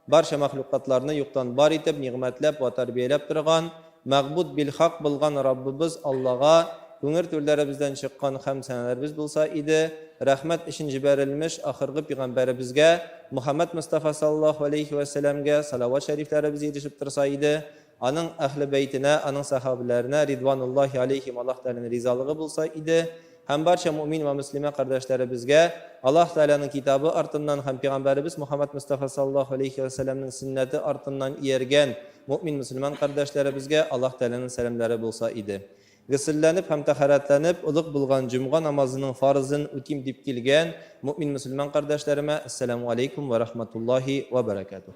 Барча мәхлукатларны юктан бар итеп, нигъмәтләп вә тәрбияләп торган, мәгъбуд бил-хак булган Раббыбыз Аллага күңел түрләребездән чыккан хәмд-сәналәребез булса иде, рәхмәт өчен җибәрелмеш ахыргы пигамбәребезгә, Мөхәммәд Мостафа саллаллаһу галәйһи вә сәләмгә салават шәрифләребез ирешеп торса иде, Аның Әһле бәйтенә, аның сәхабәләренә, ридвануллаһи алейһим, Аллаһ Тәгаләнең ризалыгы булса иде, һәм барча мөэмин вә мөслимә кардәшләребезгә, Аллаһ Тәгаләнең Китабы артыннан һәм Пигамбәребез Мөхәммәд Мостафа саллаллаһу алейһи вә сәлләмнең сөннәте артыннан ияргән мөэмин-мөселман кардәшләребезгә Аллаһ Тәгаләнең сәламнәре булса иде. Гөселләнеп һәм тәһарәтләнеп, олуг булган җомга намазының фарызын үтим дип килгән мөэмин-мөселман кардәшләремә, Әссәламү алейкүм вә рәхмәтуллаһи вә бәрәкәтүһ.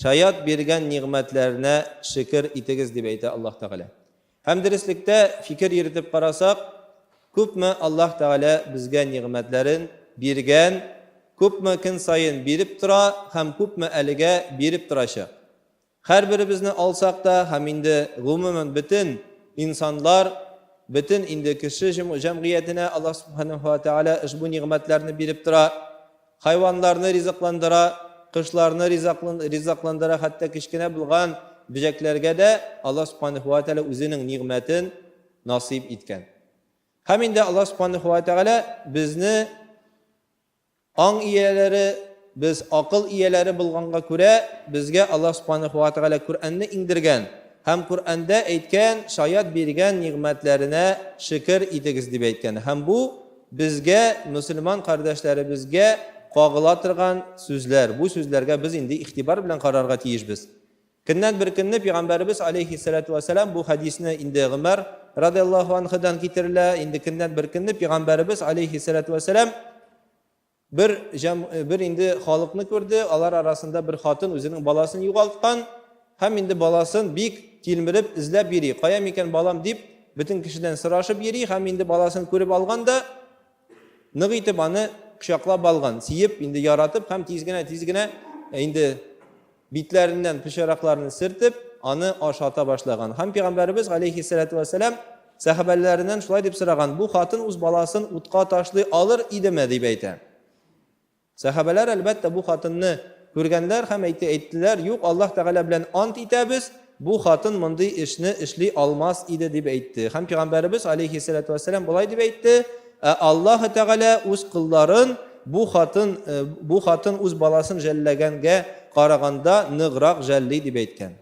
Шаят биргән нигъмәтләренә шөкер итегез, дип әйтә Аллаһ Тәгалә. Һәм дөреслектә, фикер йөртеп карасак, күпме Аллаһ Тәгалә безгә нигъмәтләрен биргән, күпме көн саен биреп тора һәм күпме әлегә биреп торачак. Һәрберебезне алсак та һәм инде гомумән бөтен инсанлар, бөтен инде кеше җәмгыятенә Аллаһ Субханаһу ва Тәгалә ошбу нигъмәтләрне биреп тора. Хайваннарны ризыкландыра, кошларны ризыкландыра, хәтта кечкенә булган бөҗәкләргә дә Аллаһ Субханаһу ва Тәгалә Үзенең нигъмәтен насыйп иткән. Һәм инде Аллаһ Субханаһу ва Тәгалә безне аң ияләре, без акыл ияләре булганга күрә, безгә Аллаһ Субханаһу ва Тәгалә Коръәнне иңдергән һәм Коръәндә әйткән, шаят биргән нигъмәтләренә шөкер итегез дип әйткән. Һәм бу Безгә, мөселман кардәшләребезгә кагыла торган сүзләр, бу сүзләргә без инде игътибар белән карарга тиешбез. Көннән бер көнне Пигамбәребез алейһиссәләтү вәссәлам, бу хәдисне инде Гомәр радыяллаһу анһудан китерелә, инде көннән бер көнне Пигамбәребез алейһиссәләтү вәссәлам, Бер җәм, бер инде халыкны күрде, алар арасында бер хатын үзенең баласын югалткан һәм инде баласын бик тилмереп эзләп йөри. Кая микән балам дип, бөтен кешедән сорашып йөри һәм инде баласын күреп алган да нык итеп аны кочаклап алган, сөеп, инде яратып һәм тиз генә, тиз генә инде Битләреннән пычракларны сертеп, аны ашата башлаган. Һәм пәйгамбәребез галәйһиссәлату вәссәлам сәхабәләреннән шулай дип сораган, бу хатын үз баласын утка ташлый алыр идеме дип әйтә. Сәхабәләр әлбәттә бу хатынны күргәннәр һәм әйтте, әйттеләр, юк, Аллаһ Тәгалә белән ант итәбез, Бу хатын мондый эшне эшли алмас иде, дип әйтте. Һәм Пигамбәребез, галәйһиссәләтү вәссәлам, болай дип әйтте, Ә Аллаһы Тәгалә үз колларын бу хатын, э, бу хатын үз баласын жәлләгәнгә караганда ныграк жәлли, дип әйткән.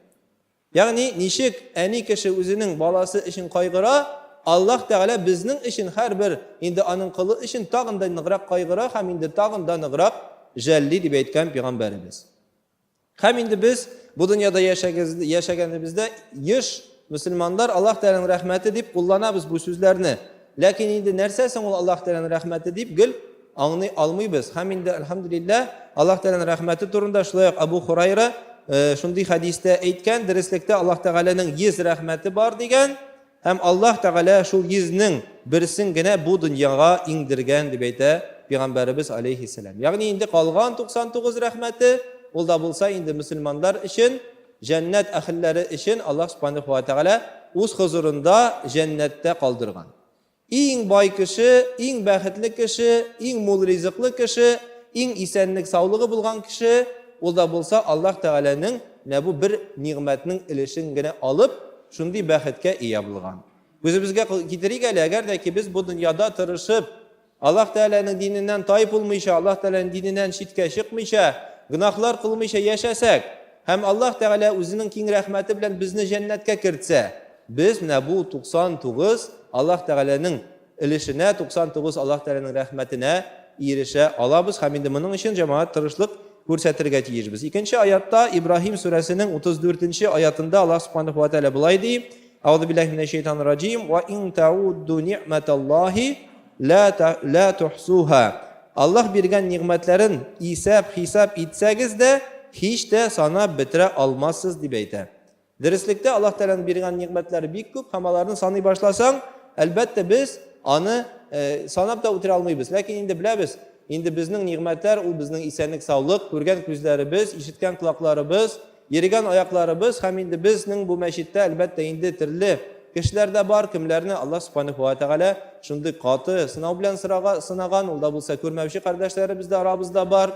Ягъни, ничек әни кеше үзенең баласы өчен кайгыра, Аллаһ Тәгалә безнең өчен һәрбер инде аның колы өчен тагын да ныграк кайгыра һәм инде тагын да ныграк жәлли, дип әйткән Пигамбәребез. Һәм инде без бу дөньяда яшәгәнебездә еш мөселманнар Аллаһ Тәгаләнең рәхмәте дип кулланабыз бу сүзләрне. Ләкин инде нәрсә соң ул Аллаһ Тәгаләнең рәхмәте дип гел аңлый алмыйбыз. Һәм инде альхамдулиллаһ Аллаһ Тәгаләнең рәхмәте турында шулай ук Абу Хурайра э, шундый хәдистә әйткән, дөреслекдә Аллаһ Тәгаләнең 100 рәхмәте бар дигән. Һәм Аллаһ Тәгалә шул йөзнең берсен генә бу дөньяга иңдергән, дип әйтә Пигамбәребез алейһиссәлам. Ягъни инде калган 99 рәхмәте, ул да булса инде мөселманнар өчен, җәннәт әһелләре өчен Аллаһ Субханаһу ва Тәгалә үз хозурында җәннәттә калдырган. Иң бай кеше, иң бәхетле кеше, иң мул ризыклы кеше, иң исәнлек-саулыгы булган кеше, Ул да булса Аллаһ Тәгаләнең нә бу бер нигъмәтнең өлешен генә алып, шундый бәхеткә ия булган. Күзебезгә китерик әле, әгәр дә ки без бу дөньяда тырышып, Аллаһ Тәгаләнең диненнән тай булмыйча, Аллаһ Тәгаләнең диненнән читкә чыкмыйча, гөнаһлар кылмыйча яшәсәк, һәм Аллаһ Тәгалә үзенең киң рәхмәте белән безне җәннәткә кертсә, без нә бу 99 Аллаһ Тәгаләнең өлешенә, 99 Аллаһ Тәгаләнең рәхмәтенә ирешә алабыз һәм инде моның өчен, җәмәгать, тырышлык күрсәтергә тиешбез. Икенче аятта, Ибраһим сүрәсенең 34 нче аятында Аллаһ Субханаһу ва Тәгалә болай ди, Әгъзубиллаһи минәш-шәйтанир раҗим, Ва ин таудду ни'мәталлаһи лә лә тухсуһа. Аллаһ биргән нигъмәтләрен исәп-хисап итсәгез дә, һич тә санап бетерә алмассыз, дип әйтә. Дөреслектә, Аллаһ Тәгаләнең биргән нигъмәтләре бик күп һәм аларны саный башласаң, әлбәттә, без аны санап та үтерә алмыйбыз. Ләкин инде беләбез, инде безнең нигъмәтләр ул безнең исәнлек-саулык, күргән күзләребез, ишеткән колакларыбыз, йөргән аякларыбыз һәм инде безнең бу мәчеттә, әлбәттә, инде төрле кешеләр дә бар, кемләрне Аллаһ Субханаху ва Тәгалә шундый каты сынау белән сынаган, ул да булса күрмәүче кардәшләребез дә арабызда бар.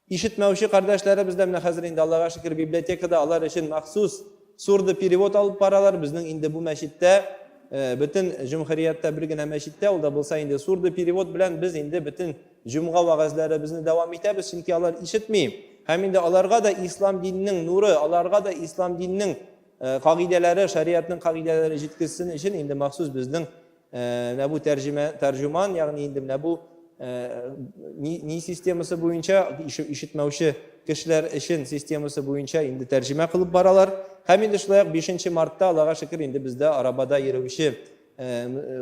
Ишетмәүче кардәшләребез дә менә хәзер инде, Аллага шөкер, библиотекада алар өчен махсус сурдоперевод алып баралар. Безнең инде бу мәчеттә, бөтен җөмһүрияттә бер генә мәчеттә, ул да булса инде сурдоперевод белән без инде бөтен җомга вәгазьләребезне дәвам итәбез, чөнки алар ишетми. Һәм инде аларга да ислам диненең нуры, аларга да ислам диненең кагыйдәләре, шариатның кагыйдәләре җиткезсен өчен инде махсус безнең Менә бу тәрҗемә, тәрҗеман, ягъни инде менә бу ни, ни системасы буенча ишетмәүче кешеләр өчен системасы буенча инде тәрҗемә кылып баралар. Һәм инде шулай ук 5 мартта, Аллага шөкер, инде бездә арабада йөрүче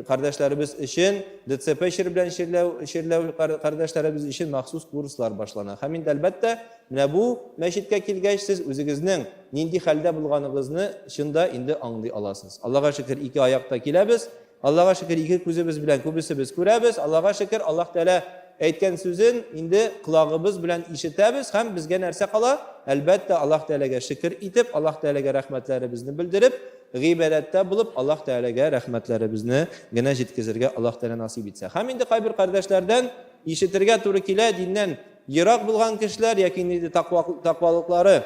кардәшләребез өчен, ДЦП чир белән чирләү, чирләү кардәшләребез өчен махсус курслар башлана. Һәм инде әлбәттә, Менә бу мәчеткә килгәч, сез үзегезнең нинди хәлдә булганыгызны чын да инде аңлый аласыз. Аллага шөкер, ике аякта киләбез. Аллага шөкер, ике күзебез белән күбесебез күрәбез. Аллага шөкер, Аллаһ Тәгалә әйткән сүзен инде колагыбыз белән ишетәбез һәм безгә нәрсә кала? Әлбәттә, Аллаһ Тәгаләгә шөкер итеп, Аллаһ Тәгаләгә рәхмәтләребезне белдереп, гыйбадәттә булып, Аллаһ Тәгаләгә рәхмәтләребезне генә җиткезергә Аллаһ Тәгалә насыйп итсә. Һәм инде кайбер кардәшләрдән ишетергә туры килә, диннән Ерак булган кешеләр яки инде таквалыклары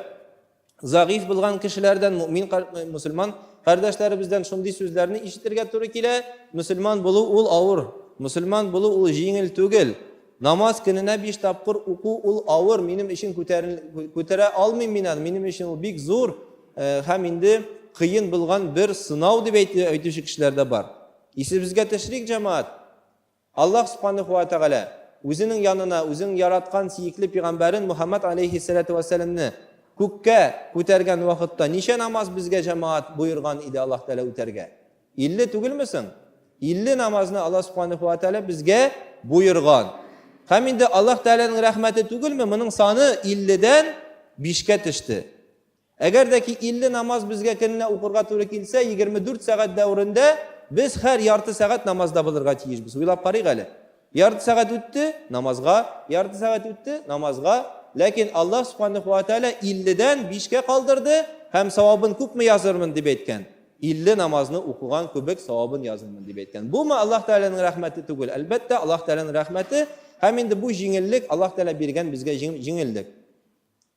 зәгыйфь булган кешеләрдән, мөмин мусульман кардәшләребездән шундый сүзләрне ишетергә туры килә. Мусульман булу ул авыр. Мусульман булу ул җиңел түгел. Намаз көненә биш тапкыр уку ул авыр, минем өчен күтәрә алмыйм мин аны, минем өчен ул бик зур э, һәм инде кыен булган бер сынау дип әйтүче кешеләр дә бар. Исебезгә төшерик, җәмаат. Аллаһ Субханәһү вә Тәгалә Үзенең янына Үзенең яраткан сөекле пигамбәрен Мухәммәд аләйһиссәләтү вә сәламне күккә күтәргән вакытта ничә намаз безгә җәмәгать боерган иде Аллаһ Тәгалә үтәргә? Илле түгелме соң? Илле намазны Аллаһ Субханәһү вә Тәгалә безгә боерган. Һәм инде Аллаһ Тәгаләнең рәхмәте түгелме, моның саны илледән бишкә төште. Әгәр дә ки 50 намаз безгә көненә укырга туры килсә, 24 сәгать дәверендә без хәр ярты сәгать намазда булырга тиешбез. Уйлап карыйк әле. Ярты сәгать үтте, намазга, ярты сәгать үтте, намазга. Ләкин Аллаһ Субханәһу ва Тәгалә 50дән 5кә калдырды һәм савабын күпме язырмын дип әйткән. 50 намазны укыган кебек савабын язырмын дип әйткән. Бумы Аллаһ Тәгаләнең рәхмәте түгел? Әлбәттә, Аллаһ Тәгаләнең рәхмәте һәм инде бу җиңеллек Аллаһ Тәгалә биргән безгә җиңеллек.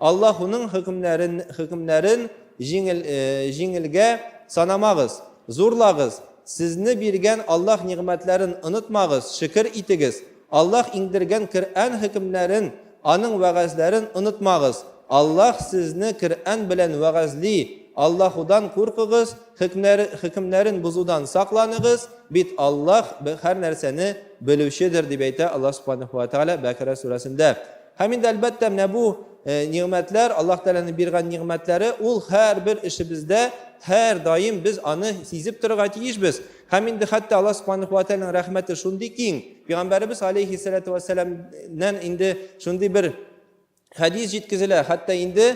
Аллаһ уның хөкемнәрен, хөкемнәрен җиңел, җиңелгә санамагыз, зурлагыз, сезне биргән Аллаһ нигъмәтләрен онытмагыз, шөкер итегез, Аллаһ иңдергән Коръән хөкемнәрен, Аның вәгазьләрен онытмагыз, Аллаһ сезне Коръән белән вәгазьли, Аллаһудан куркыгыз, хөкмнәр, хөкемнәрен бозудан сакланыгыз, бит Аллаһ һәр нәрсәне белүчедер, дип әйтә Аллаһ Субханәһү вә Тәгалә Бәкәрә сүрәсендә. Һәм инде, әлбәттә, менә бу нигъмәтләр, Аллаһ Тәгаләнең биргән нигъмәтләре, ул һәрбер эшебездә һәр даим без аны сизеп торырга тиешбез. Һәм инде хәтта Аллаһ Субханаһу ва Тәгаләнең рәхмәте шундый киң, Пәйгамбәребез алейхиссалату вассаламнан инде шундый бер хәдис җиткезелә, хәтта инде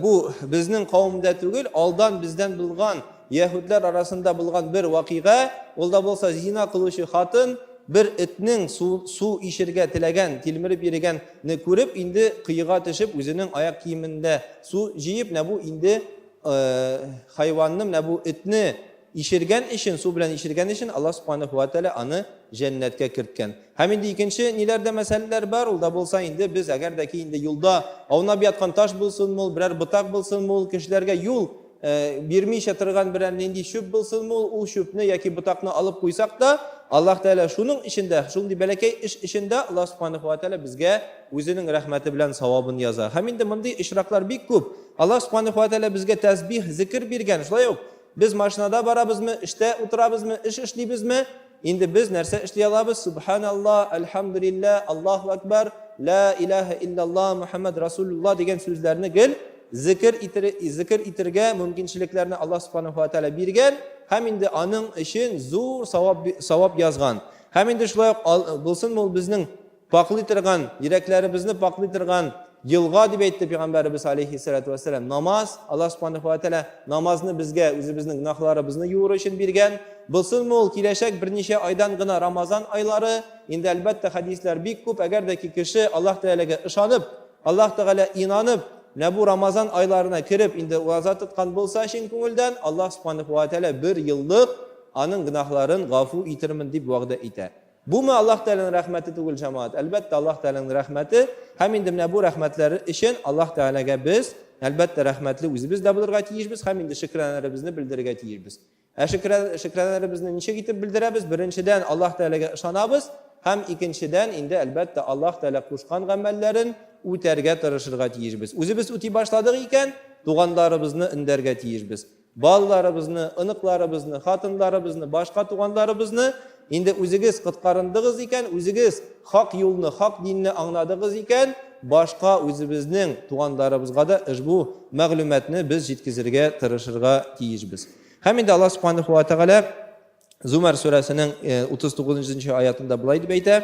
бу безнең кавымда түгел, алдан бездән булган Яһүдләр арасында булган бер вакыйга, ул да булса зина кылучы хатын бер этнең су, су ишергә теләгән, тилмереп йөргәнне күреп, инде кыега төшеп, үзенең аяк киемендә су җыеп, менә бу инде хайванны, менә бу этне ишергән өчен, су белән ишергән өчен Аллаһ Субханаһу ва Тәгалә аны җәннәткә керткән. Һәм инде икенче ниләрдә мәсьәләләр бар, ул да булса инде без әгәр дә ки инде юлда аунап яткан таш булсынмы ул, берәр ботак булсынмы ул, кешеләргә юл бирмичә торган берәр нинди чүп булсынмы ул, ул чүпне яки ботакны алып куйсак та, Аллаһ Тәгалә шуның эчендә, шундый бәләкәй эш эчендә Аллаһ Субханаһу ва Тәгалә безгә үзенең рәхмәте белән савабын яза. Һәм инде мондый очраклар бик күп. Аллаһ Субханаһу ва Тәгалә безгә тәсбих, зикер биргән. Шулай ук без машинада барабызмы, эштә утырабызмы, эш эшлибезме, Инде без нәрсә эшли алабыз? Сүбхәналла, әлхәмдүлиллә, Аллаһу әкбәр, лә иләһә иллялла, Мөхәммәд Расулулла дигән сүзләрне гел зекер итер, зекер итергә мөмкинчелекләрне Аллаһ Субханаһу ва Тәгалә биргән һәм инде аның өчен зур савап савап язган. Һәм инде шулай ук булсынмы ул безнең Пакълый торган, йөрәкләребезне пакълый торган елга дип әйтте пәйгамбәребез алейхиссалату вассалам. Намаз, Алла субханаху ва тәгалә намазны безгә үзебезнең гөнаһларыбызны юыр өчен биргән. Булсынмы ул киләчәк берничә айдан гына Рамазан айлары? Инде әлбәттә хәдисләр бик күп, әгәр дә ки кеше Аллаһ Тәгаләгә ышанып, Аллаһ Тәгалә инанып, менә бу Рамазан айларына кереп, инде ураза тоткан булса чын күңелдән, Аллаһ субханаху ва тәгалә бер еллык аның гөнаһларын гафу итермен дип вәгъдә итә. Буме Аллаһ Тәгаләнең рәхмәте түгел, җәмәгать? Әлбәттә, Аллаһ Тәгаләнең рәхмәте. Һәм инде менә бу рәхмәтләр өчен Аллаһ Тәгаләгә без, әлбәттә, рәхмәтле үзебез дә булырга тиешбез һәм инде шөкранәләребезне белдерергә тиешбез. Ә шөкранәләребезне ничек итеп белдерәбез? Беренчедән, Аллаһ Тәгаләгә ышанабыз һәм икенчедән, инде, әлбәттә, Аллаһ Тәгалә кушкан гамәлләрен үтәргә тырышырга тиешбез. Үзебез үти башладык икән, туганнарыбызны өндәргә тиешбез. Балаларыбызны, оныкларыбызны, хатынларыбызны, башка туганларыбызны инде үзегез коткарындыгыз икән, үзегез хак юлны, хак динне аңладыгыз икән, башка үзебезнең туганларыбызга да ошбу мәгълүматны без җиткезергә тырышырга тиешбез. Һәм инде Аллаһ Субханаһу ва Тәгалә Зумар сүрәсенең 39 нчы аятында болай дип әйтә: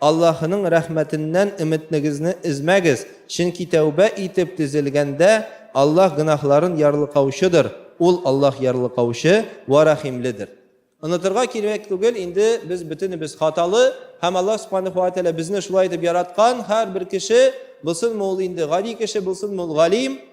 Аллаһының рәхмәтеннән өметнегезне өзмәгез, чөнки тәүбә итеп төзелгәндә, Аллаһ гөнаһларын ярлыкаучыдыр, Ул, Аллаһ, ярлыкаучы вә рәхимледер. Онытырга кирәк түгел, инде без бөтенебез хаталы, һәм Аллаһ Субханәһү вә Тәгалә безне шулай итеп яраткан, һәрбер кеше, булсынмы ул инде гади кеше, булсынмы ул галим,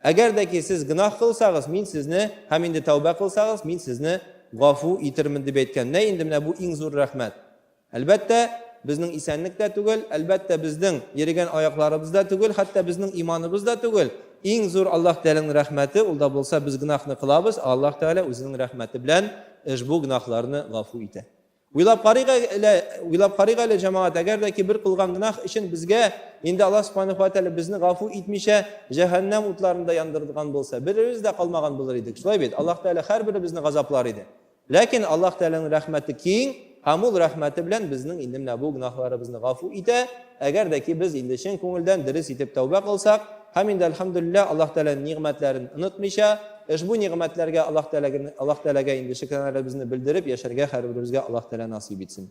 Әгәр дә ки сез гөнаһ кылсагыз, мин сезне, һәм инде тәүбә кылсагыз, мин сезне гафу итермен, дип әйткән. Нә инде менә бу иң зур рәхмәт. Әлбәттә, безнең исәнлек тә түгел, әлбәттә, безнең йөрегән аякларыбыз да түгел, хәтта безнең иманыбыз да түгел. Иң зур Аллаһ Тәгаләнең рәхмәте, ул да булса, без гөнаһны кылабыз, ә Аллаһ Тәгалә үзенең рәхмәте белән ошбу гөнаһларны гафу итә. Уйлап карыйк әле, уйлап карыйк әле, җәмәгать, әгәр дә ки бер кылган гөнаһ өчен безгә инде Аллаһ Субханәһү ва Тәгалә безне гафу итмичә җәһәннәм утларында яндырган булса, беребез дә калмаган булыр идек. Шулай бит? Аллаһ Тәгалә һәрберебезне газаплар иде. Ләкин Аллаһ Тәгаләнең рәхмәте киң, һәм ул рәхмәте белән безнең инде менә бу гөнаһларыбызны гафу итә, әгәр дә ки без инде чын күңелдән дөрес итеп тәүбә кылсак, Һәм инде, әлхәмдүлилләһ, Аллаһ Тәгаләнең нигъмәтләрен онытмыйча, ошбу нигъмәтләргә Аллаһ Тәгаләгә инде шөкранәләребезне белдереп яшәргә һәрберебезгә Аллаһ Тәгалә насыйп итсен.